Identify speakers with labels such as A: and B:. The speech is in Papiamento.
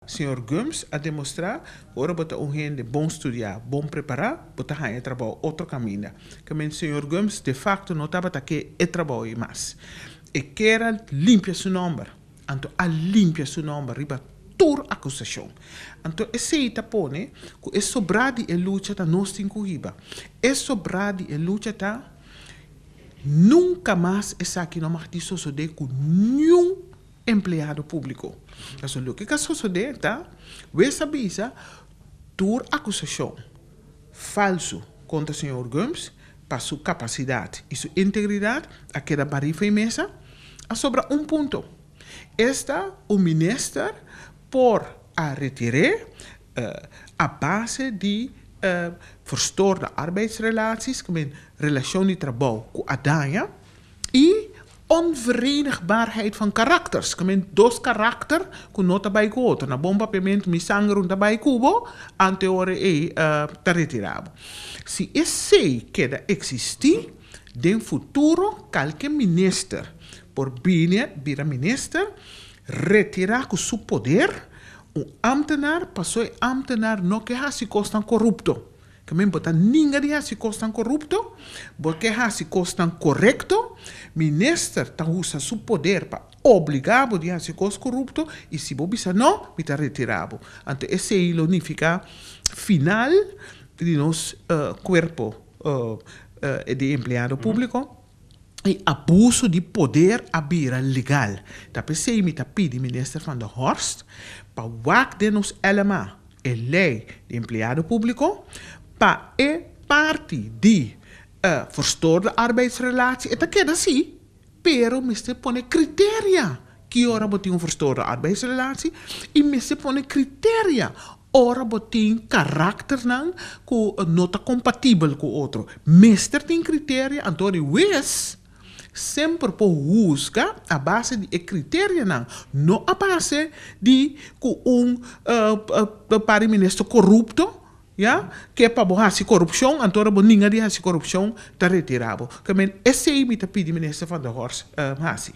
A: Señor Gomes a demostrá cu ora bo ta un hende bon studiá, bon prepará, bo ta haña trabou otro caminda. Ta menti señor Gomes de facto no tabata ke e trabou ei mas. E kier a limpia su nomber, anto a limpia su nomber riba tur acusacion. Anto esei ta pone cu e sobrá di e lucha ta nos tin cu hiba. E sobrá di e lucha ta nunca mas esaki no mati sosodé cu niun. Empleado públiko. Pasobra loke k'a sosodé ta wes a bisa tur akusashon falsu kontra señor Gomes pa su kapasidat i su integridat a keda barí fei mesa. A sobra un punto. Esta un minister por a retir'é a base di verstoorde arbeidsrelaties, ke men relashon di trabou ku a daña i. Onverenigbaarheid van karakter, skemen dos karakter ku no ta bai ku otro. Na bon papiamentu mi sangrun ta bai ku bo ante ora ei ta retirá bo. Si esei keda eksistí, den futuro kalke minister por bini bira minister, retirá ku su poder un ámtenar pasobra e ámtenar no ke hasi kosnan korupto. Tambe bo ta ninga di hasi kosnan korupto, bo ke hasi kosnan korekto, minister ta usa su poder pa obliga bo di hasi kos korupto i si bo bisa no, mi ta retira bo. Anto esei lo nifiká final di nos kuerpo di empleado públiko. e abuso di poder a bira legal. Ta p'esei mi ta pidi Minister Van der Horst pa wak den nos LMA, e Lei di Empleado Públiko, pa e parti di e verstoorde arbeidsrelatie e ta keda así, pero mester pone kriteria ki ora bo tin un verstoorde arbeidsrelatie i mester pone kriteria Ora bo tin karakternan ku no ta kompatibel ku otro, mester tin kriterio, anto di wes semper por husga a base di e kriterionan, no a base di ku un pare mi mester korupto, ya, ke pa bo hasi korupshon, anto ora bo ninga di hasi korupshon ta retira bo. Ke men esei mi ta pidi Minister Van der Horst hasi.